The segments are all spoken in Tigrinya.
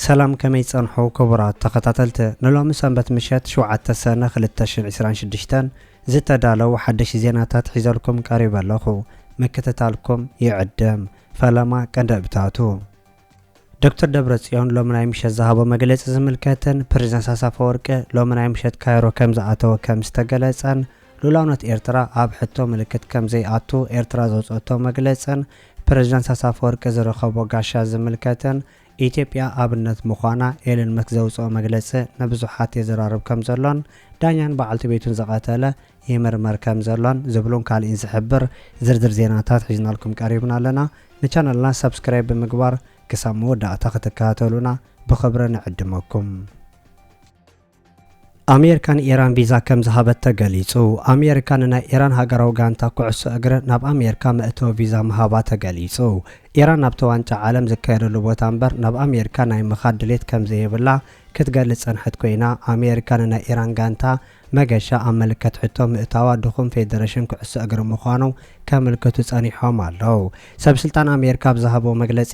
ሰላም ከመይ ጸንሑ ክቡራት ተኸታተልቲ ንሎሚ ሰንበት ምሸት ሽውዓተ ሰነ ክልተ ሽሕን ዕስራን ሽዱሽተን ዝተዳለው ሓደሽቲ ዜናታት ሒዘልኩም ቀሪበ ኣለኹ ምክትታልኩም ይዕድም ፈለማ ቀንዲ እብታቱ ዶክተር ደብረጽዮን ሎሚ ናይ ምሸት ዝሃቦ መግለጺ ዝምልከትን ፕሬዝዳንት ኢሳያስ ኣፈወርቂ ሎሚ ናይ ምሸት ካይሮ ከም ዝኣተወ ከም ዝተገለጸን ሉእላውነት ኤርትራ ኣብ ሕቶ ምልክት ከም ዘይኣቱ ኤርትራ ዘውጽኦቶ መግለጽን ፕሬዝዳንት ኢሳያስ ኣፈወርቂ ዝረኸቦ ጋሻ ዝምልከትን ኢትዮጵያ ኣብነት ምዃና ኤለን መስክ ዘውጽኦ መግለጺ ንብዙሓት የዘራርብ ከም ዘሎን ዳኛን በዓልቲ ቤቱን ዝቐተለ ይምርመር ከም ዘሎን ዝብሉን ካልእን ዝሕብር ዝርዝር ዜናታት ሒዝናልኩም ቀሪብና ኣለና። ንቻነልና ሳብስክራይብ ብምግባር ክሳብ መወዳእታ ክትከታተሉና ብኽብሪ ንዕድመኩም። ኣሜርካ ንኢራን ቪዛ ከም ዝሃበት ተገሊጹ። ኣሜርካ ንናይ ኢራን ሃገራዊ ጋንታ ኩዕሶ እግሪ ናብ ኣሜርካ መእተዊ ቪዛ ምሃባ ተገሊጹ። ኢራን ናብቲ ዋንጫ ዓለም ዝካየደሉ ቦታ እምበር ናብ ኣሜርካ ናይ ምኻድ ድሌት ከም ዘይብላ ክትገልጽ ጸንሐት ኮይና ኣሜርካ ንናይ ኢራን ጋንታ መገሻ ኣብ ምልክት ሕቶ ምእታዋ ድኹም ፌደረሽን ኩዕሶ እግሪ ምዃኑ ከምልክቱ ጸኒሖም ኣለው። ሰብ ስልጣን ኣሜሪካ ኣብ ዝሃብዎ መግለጺ፣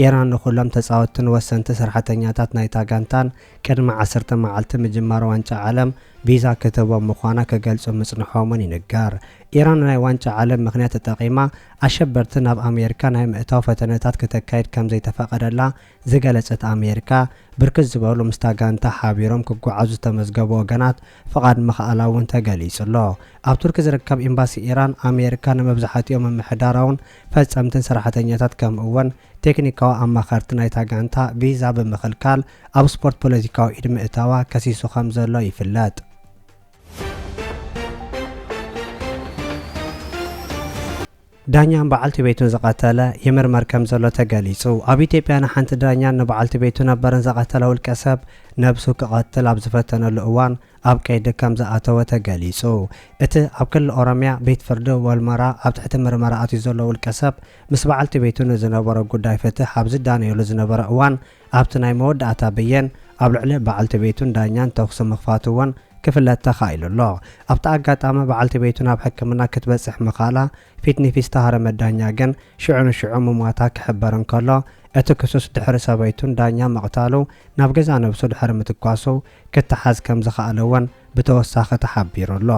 ኢራን ንኹሎም ተጻወትትን ወሰንቲ ስራሕተኛታት ናይታ ጋንታን ቅድሚ ዓሰርተ መዓልቲ ምጅማር ዋንጫ ዓለም ቪዛ ክትህቦም ምዃና ክገልጹ ምጽንሖም'ውን ይንገር። ኢራን ናይ ዋንጫ ዓለም ምኽንያት ተጠቒማ ኣሸበርቲ ናብ ኣሜሪካ ናይ ምእታው ፈተነታት ክተካይድ ከምዘይተፈቐደላ ዝገለጸት ኣሜሪካ፣ ብርክት ዝበሉ ምስታ ጋንታ ሓቢሮም ክጓዓዙ ዝተመዝገቡ ወገናት ፍቓድ ምኽኣላ'ውን ተገሊጹ'ሎ። ኣብ ቱርኪ ዝርከብ ኤምባሲ ኢራን፣ ኣሜሪካ ንመብዛሕቲኦም ምምሕዳራውን ፈጸምትን ሰራሕተኛታት ከምኡ'ውን ቴክኒካዊ ኣማኸርቲ ናይታ ጋንታ ቪዛ ብምኽልካል ኣብ ስፖርት ፖለቲካዊ ኢድ ምእታዋ ከሲሱ ከም ዘሎ ይፍለጥ። ዳኛን በዓልቲ ቤቱን ዝቐተለ ይምርመር ከምዘሎ ተገሊፁ። ኣብ ኢትዮጵያ ንሓንቲ ዳኛን ንበዓልቲ ቤቱ ነበርን ዝቐተለ ውልቀ ሰብ ነብሱ ክቐትል ኣብ ዝፈተነሉ እዋን ኣብ ቀይዲ ከምዝኣተወ ተገሊፁ። እቲ ኣብ ክልል ኦሮሚያ ቤት ፍርዲ ወልመራ ኣብ ትሕቲ ምርመራ ኣትዩ ዘሎ ውልቀ ሰብ ምስ በዓልቲ ቤቱ ንዝነበሮ ጉዳይ ፍትሕ ኣብ ዝዳነየሉ ዝነበረ እዋን ኣብቲ ናይ መወዳእታ ብይን፣ ኣብ ልዕሊ በዓልቲ ቤቱን ዳኛን ተኹሲ ምኽፋቱ እውን ክፍለጥ ተኻኢሉ ኣሎ። ኣብቲ ኣጋጣሚ፣ በዓልቲ ቤቱ ናብ ሕክምና ክትበጽሕ ምኽኣላ ፊትኒፊት ዝተሃረመት ዳኛ ግን ሽዑ ንሽዑ ምሟታ ክሕበር እንከሎ፣ እቲ ክሱስ ድሕሪ ሰበይቱን ዳኛ ምቕታሉ ናብ ገዛእ ነብሱ ድሕሪ ምትኳሱ ክተሓዝ ከም ዝኸኣለ እውን ብተወሳኺ ተሓቢሩ ኣሎ።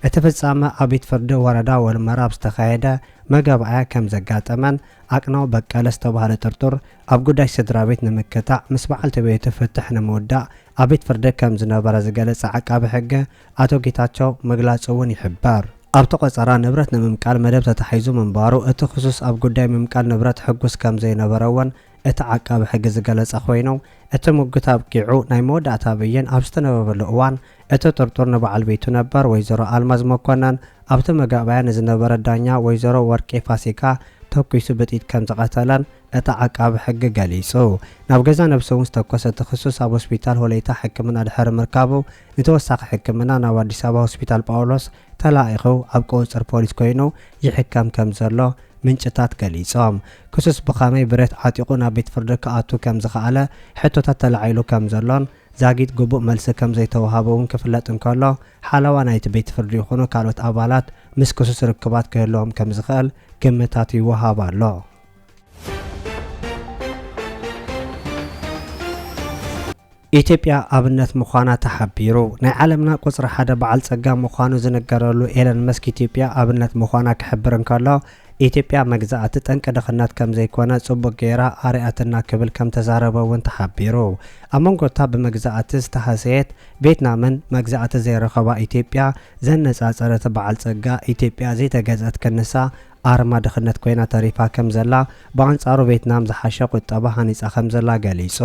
እቲ ፍጻመ ኣብ ቤት ፍርዲ ወረዳ ወልመራ ኣብ ዝተኻየደ መገባእያ ከም ዘጋጠመን ኣቅናው በቀለ ዝተባህለ ጥርጡር ኣብ ጉዳይ ስድራቤት ንምክታዕ ምስ በዓልቲ ቤቱ ፍትሕ ንምውዳእ ኣብ ቤት ፍርዲ ከም ዝነበረ ዝገለጸ ዓቃቢ ሕገ ኣቶ ጌታቸው ምግላጹ እውን ይሕበር። ኣብቲ ቆጸራ ንብረት ንምምቃል መደብ ተታሒዙ ምንባሩ እቲ ክሱስ ኣብ ጉዳይ ምምቃል ንብረት ሕጉስ ከም ዘይነበረ እውን እቲ ዓቃቢ ሕጊ ዝገለጸ ኮይኑ እቲ ሙግት ኣብቂዑ ናይ መወዳእታ ብይን ኣብ ዝተነበበሉ እዋን እቲ ጥርጡር ንበዓል ቤቱ ነበር ወይዘሮ ኣልማዝ መኮነን ኣብቲ መጋእባያ ንዝነበረት ዳኛ ወይዘሮ ወርቄ ፋሲካ ተኩሱ ብጥይት ከም ዝቐተለን እቲ ዓቃቢ ሕጊ ገሊጹ። ናብ ገዛ ነብሱ'ውን ዝተኮሰ እቲ ክሱስ ኣብ ሆስፒታል ሆለይታ ሕክምና ድሕሪ ምርካቡ ንተወሳኺ ሕክምና ናብ ኣዲስ ኣበባ ሆስፒታል ጳውሎስ ተላኢኹ ኣብ ቁጽጽር ፖሊስ ኮይኑ ይሕከም ከም ዘሎ ምንጭታት ገሊጾም። ክሱስ ብኸመይ ብረት ዓጢቑ ናብ ቤት ፍርዲ ክኣቱ ከም ዝኸኣለ ሕቶታት ተላዒሉ ከም ዘሎን ዛጊት ግቡእ መልሲ ከም ዘይተወሃቦ'ውን ክፍለጥ እንከሎ ሓለዋ ናይቲ ቤት ፍርዲ ይኹኑ ካልኦት ኣባላት ምስ ክሱስ ርክባት ክህልዎም ከም ዝኽእል ግምታት ይወሃብ ኣሎ። ኢትዮጵያ ኣብነት ምዃና ተሓቢሩ። ናይ ዓለምና ቁፅሪ ሓደ በዓል ፀጋ ምዃኑ ዝንገረሉ ኤለን መስክ ኢትዮጵያ ኣብነት ምዃና ክሕብር እንከሎ ኢትዮጵያ መግዛእቲ ጠንቂ ድኽነት ከም ዘይኮነ ጽቡቕ ገይራ ኣርኣትና ክብል ከም ተዛረበ እውን ተሓቢሩ። ኣብ መንጎ እታ ብመግዛእቲ ዝተሃሰየት ቬትናምን መግዛእቲ ዘይረኸባ ኢትዮጵያ ዘነጻጸረ እቲ በዓል ጸጋ ኢትዮጵያ ዘይተገዝኣት ክንሳ ኣርማ ድኽነት ኮይና ተሪፋ ከምዘላ፣ ብኣንጻሩ ቬትናም ዝሓሸ ቁጠባ ሃኒጻ ከምዘላ ገሊጹ።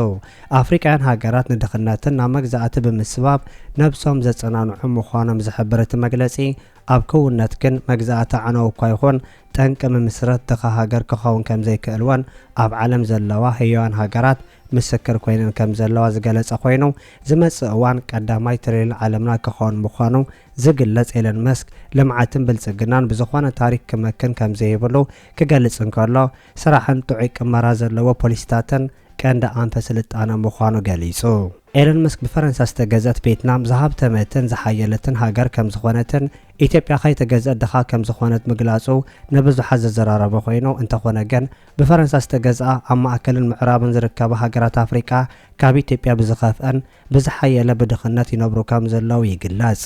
ኣፍሪቃውያን ሃገራት ንድኽነትን ናብ መግዛእቲ ብምስባብ ነብሶም ዘጸናንዑ ምዃኖም ዝሕብር እቲ መግለጺ፣ ኣብ ክውንነት ግን መግዛእቲ ኣዕናዊ እኳ ይኹን ጠንቂ ምምስረት ድኻ ሃገር ክኸውን ከምዘይክእል'ውን ኣብ ዓለም ዘለዋ ህያዋን ሃገራት ምስክር ኮይነን ከምዘለዋ ዝገለጸ ኮይኑ፣ ዝመጽእ እዋን ቀዳማይ ትሪልዮን ዓለምና ክኸውን ምዃኑ ዝግለጽ ኤለን መስክ ልምዓትን ብልጽግናን ብዝኾነ ታሪክ ክመክን ከምዘይብሉ ክገልጽ እንከሎ፣ ስራሕን ጥዑይ ቅመራ ዘለዎ ፖሊሲታትን ቀንዲ ኣንፈት ስልጣነ ምዃኑ ገሊጹ። ኤለን መስክ ብፈረንሳ ዝተገዝኣት ቬትናም ዝሃብተመትን ዝሓየለትን ሃገር ከምዝኾነትን ኢትዮጵያ ከይተገዝኣት ድኻ ከምዝኾነት ምግላጹ ንብዙሓት ዘዘራረበ ኮይኑ፣ እንተኾነ ግን ብፈረንሳ ዝተገዝኣ ኣብ ማእከልን ምዕራብን ዝርከባ ሃገራት ኣፍሪቃ ካብ ኢትዮጵያ ብዝኸፍኣን ብዝሓየለ ብድኽነት ይነብሩ ከም ዘለዉ ይግለጽ።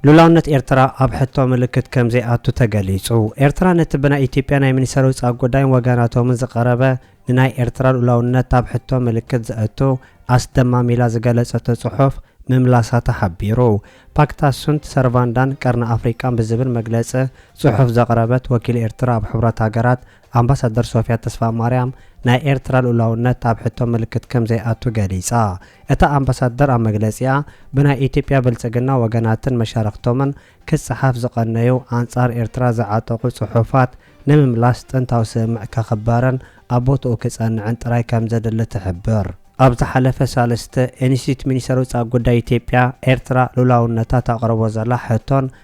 ሉላውነት ኤርትራ ኣብ ሕቶ ምልክት ከም ዘይኣቱ ተገሊጹ። ኤርትራ ነቲ ብናይ ኢትዮጵያ ናይ ሚኒስተር ውጻእ ጉዳይን ወገናቶምን ዝቐረበ ንናይ ኤርትራ ሉላውነት ኣብ ሕቶ ምልክት ዘእቱ ኣስደማሚ ኢላ ዝገለጸቶ ጽሑፍ ምምላሳ ተሓቢሩ። ፓክታ ሱንት ሰርቫንዳን ቀርኒ ኣፍሪቃን ብዝብል መግለጺ ጽሑፍ ዘቕረበት ወኪል ኤርትራ ኣብ ሕቡራት ሃገራት ኣምባሳደር ሶፍያ ተስፋማርያም ናይ ኤርትራ ልኡላውነት ኣብ ሕቶ ምልክት ከምዘይኣቱ ገሊጻ። እታ ኣምባሳደር ኣብ መግለጺኣ፣ ብናይ ኢትዮጵያ ብልጽግና ወገናትን መሻርኽቶምን ክጸሓፍ ዝቐነዩ ኣንጻር ኤርትራ ዝዓጠቑ ጽሑፋት ንምምላስ ጥንታዊ ስምምዕ ከኽበርን ኣብ ቦትኡ ክጸንዕን ጥራይ ከምዘድሊ ትሕብር። ኣብ ዝሓለፈ ሳልስቲ ኢንስቲትዩት ሚኒስተር ውጻእ ጉዳይ ኢትዮጵያ፣ ኤርትራ ልኡላውነታ ተቕርቦ ዘላ ሕቶን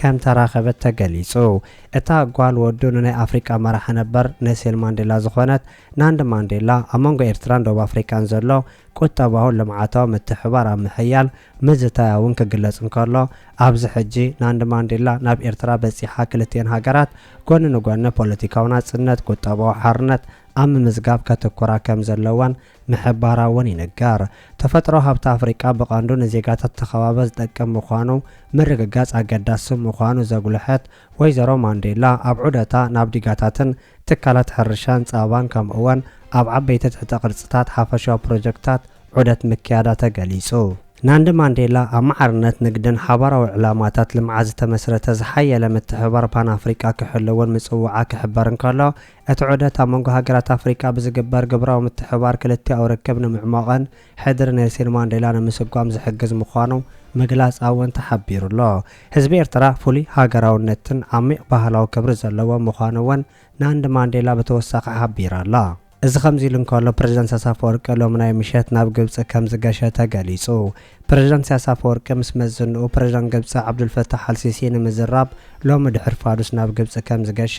ከም ተራኸበት ተገሊጹ። እታ ጓል ወዱ ንናይ ኣፍሪቃ መራሒ ነበር ነሴል ማንዴላ ዝኾነት ናንድ ማንዴላ ኣብ መንጎ ኤርትራን ደቡብ ኣፍሪቃን ዘሎ ቁጠባውን ልምዓታዊ ምትሕብባር ኣብ ምሕያል ምዝታያ እውን ክግለጽ እንከሎ ኣብዚ ሕጂ ናንድ ማንዴላ ናብ ኤርትራ በጺሓ ክልቲኤን ሃገራት ጎኒ ንጎኒ ፖለቲካዊ ናጽነት ቁጠባዊ ሓርነት ኣብ ምምዝጋብ ከትኩራ ከም ዘለወን ምሕባራ እውን ይንገር። ተፈጥሮኣዊ ሃብቲ ኣፍሪቃ ብቐንዱ ንዜጋታት እቲ ከባቢ ዝጠቅም ምዃኑ ምርግጋጽ ኣገዳሲ ምዃኑ ዘጉልሐት ወይዘሮ ማንዴላ፣ ኣብ ዑደታ ናብ ዲጋታትን ትካላት ሕርሻን ጸባን ከምኡ'ውን ኣብ ዓበይቲ ትሕተ ቅርጺታት ሓፈሻዊ ፕሮጀክትታት ዑደት ምክያዳ ተገሊጹ። ናንዲ ማንዴላ ኣብ ማዕርነት ንግድን ሓባራዊ ዕላማታት ልምዓት ዝተመስረተ ዝሓየለ ምትሕብባር ፓን ኣፍሪቃ ክሕልውን ምጽውዓ ክሕበር እንከሎ፣ እቲ ዑደት ኣብ መንጎ ሃገራት ኣፍሪቃ ብዝግበር ግብራዊ ምትሕብባር ክልቲኣዊ ርክብ ንምዕሟቕን ሕድሪ ኔልሲን ማንዴላ ንምስጓም ዝሕግዝ ምዃኑ ምግላጽ ኣውን ተሓቢሩ'ሎ። ህዝቢ ኤርትራ ፍሉይ ሃገራውነትን ዓሚቕ ባህላዊ ክብሪ ዘለዎ ምዃኑ እውን ናንድ ማንዴላ ብተወሳኺ ሓቢራ ኣላ። እዚ ከምዚ ኢሉ እንከሎ ፕረዚደንት ስያስ ኣፈወርቂ ሎሚ ናይ ምሸት ናብ ግብጺ ከምዝገሸ ተገሊጹ። ፕረዚደንት ስያስ ኣፈወርቂ ምስ መዝንኡ ፕረዚደንት ግብጺ ዓብዱልፈታሕ ኣልሲሲ ንምዝራብ ሎሚ ድሕሪ ፋዱስ ናብ ግብጺ ከምዝገሸ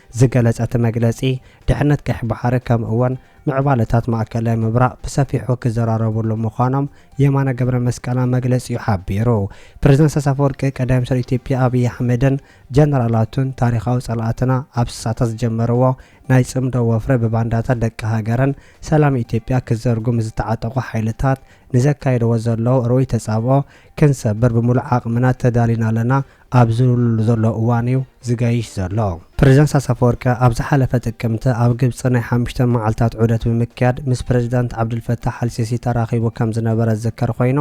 ዝገለጸ እቲ መግለጺ፣ ድሕነት ቀይሕ ባሕሪ ከምኡ'ውን ምዕባለታት ማእከላይ ምብራቕ ብሰፊሑ ክዘራረብሉ ምዃኖም የማነ ገብረመስቀል ኣብ መግለጺኡ ሓቢሩ። ፕረዚደንት ኢሳያስ ኣፈወርቂ፣ ቀዳማይ ሚኒስተር ኢትዮጵያ ኣብይ ኣሕመድን ጀነራላቱን ታሪኻዊ ጸላእትና ኣብ ስሳታት ዝጀመርዎ ናይ ጽምዶ ወፍሪ ብባንዳታት ደቂ ሃገርን ሰላም ኢትዮጵያ ክዘርጉ ምስ ዝተዓጠቑ ሓይልታት ንዘካይድዎ ዘለዉ ርኡይ ተጻብኦ ክንሰብር ብምሉእ ዓቕምና ተዳሊና ኣለና ኣብ ዝብልሉ ዘሎ እዋን'ዩ ዝገይሽ ዘሎ። ፕረዚደንት ኢሳያስ ኣፈወርቂ ኣብ ዝሓለፈ ጥቅምቲ ኣብ ግብጺ ናይ ሓሙሽተ መዓልታት ዑደት ብምክያድ ምስ ፕረዚደንት ዓብዱልፈታሕ ኣልሲሲ ተራኺቡ ከም ዝነበረ ዝዝከር ኮይኑ፣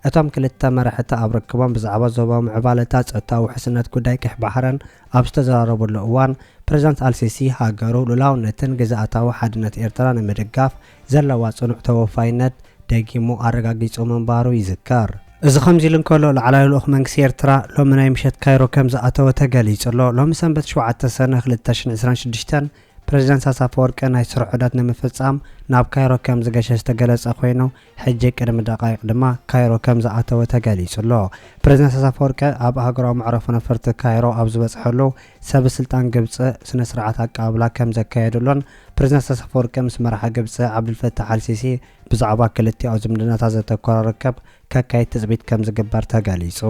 እቶም ክልተ መራሕቲ ኣብ ርክቦም ብዛዕባ ዞባዊ ምዕባለታት፣ ጸጥታዊ ውሕስነት ጉዳይ ቀይሕ ባሕርን ኣብ ዝተዘራረብሉ እዋን፣ ፕረዚደንት ኣልሲሲ ሃገሩ ሉላውነትን ግዝኣታዊ ሓድነት ኤርትራ ንምድጋፍ፣ ዘለዋ ጽኑዕ ተወፋይነት ደጊሙ ኣረጋጊጹ ምንባሩ ይዝከር። እዚ ከምዚሉ እንከሎ፣ ላዕላይ ልኡኽ መንግስቲ ኤርትራ ሎሚ ናይ ምሸት ካይሮ ከምዝኣተወ ተገሊጹ ኣሎ። ሎሚ ሰንበት ሸውዓተ ሰነ ክልተ ሽሕን ዕስራን ሽዱሽተን ፕረዚደንት ኢሳያስ ኣፈወርቂ ናይ ስራሕ ዑደት ንምፍጻም ናብ ካይሮ ከምዝገሸ ዝተገለጸ ኮይኑ፣ ሕጂ ቅድሚ ደቓይቕ ድማ ካይሮ ከምዝኣተወ ተገሊጹ ኣሎ። ፕረዚደንት ኢሳያስ ኣፈወርቂ ኣብ ሃገራዊ መዕረፎ ነፈርቲ ካይሮ ኣብ ዝበጽሐሉ ሰበስልጣን ግብጺ ስነስርዓት ኣቀባብላ ከምዘካየድሉን፣ ፕረዚደንት ኢሳያስ ኣፈወርቂ ምስ መራሒ ግብጺ ዓብዱልፈታሕ ኣልሲሲ ብዛዕባ ክልቲኣዊ ዝምድናታት ዘተኮረ ርክብ ከካይድ ትጽቢት ከምዝግበር ተገሊጹ።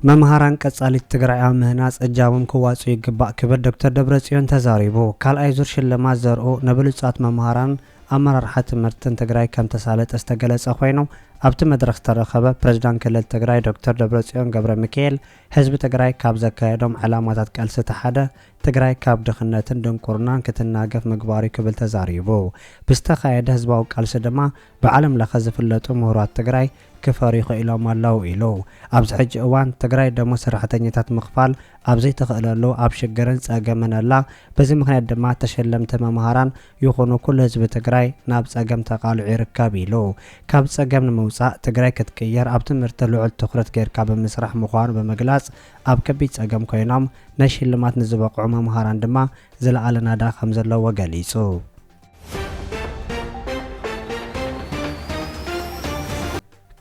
መምሃራን ቀጻሊት ትግራይ ኣብ ምህናጽ እጃሞም ክዋጽኡ ይግባእ ክብል ዶክተር ደብረጽዮን ተዛሪቡ። ካልኣይ ዙር ሽልማት ዘርኡ ንብሉጻት መምሃራንን ኣመራርሓ ትምህርትን ትግራይ ከምተሳለጠ ዝተገለጸ ኮይኑ፣ ኣብቲ መድረኽ ዝተረኸበ ፕረዚዳንት ክልል ትግራይ ዶክተር ደብረጽዮን ገብረሚካኤል፣ ህዝቢ ትግራይ ካብ ዘካየዶም ዕላማታት ቃልሲ እቲ ሓደ ትግራይ ካብ ድኽነትን ድንቁርናን ክትናገፍ ምግባር እዩ ክብል ተዛሪቡ። ብዝተኻየደ ህዝባዊ ቃልሲ ድማ ብዓለም ለኸ ዝፍለጡ ምሁራት ትግራይ ክፈርዩ ኽኢሎም ኣለው ኢሉ። ኣብዚ ሕጂ እዋን ትግራይ ደሞዝ ሰራሕተኛታት ምኽፋል ኣብ ዘይትኽእለሉ ኣብ ሽግርን ፀገምን ኣላ። በዚ ምኽንያት ድማ ተሸለምቲ መምሃራን ይኹኑ ኩሉ ህዝቢ ትግራይ ናብ ፀገም ተቃልዑ ይርከብ ኢሉ። ካብ ፀገም ንምውፃእ ትግራይ ክትቅየር ኣብ ትምህርቲ ልዑል ትኹረት ገይርካ ብምስራሕ ምዃኑ ብምግላፅ ኣብ ከቢድ ፀገም ኮይኖም ነሽልማት ንዝበቕዑ መምሃራን ድማ ዝለኣለ ናዳ ከምዘለዎ ገሊፁ።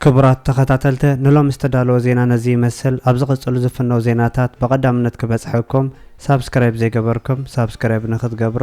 ክቡራት ተኸታተልቲ ንሎሚ ዝተዳለወ ዜና ነዚ ይመስል። ኣብ ዝቕፅሉ ዝፍነው ዜናታት ብቐዳምነት ክበፅሐኩም ሳብስክራይብ ዘይገበርኩም ሳብስክራይብ ንክትገብሩ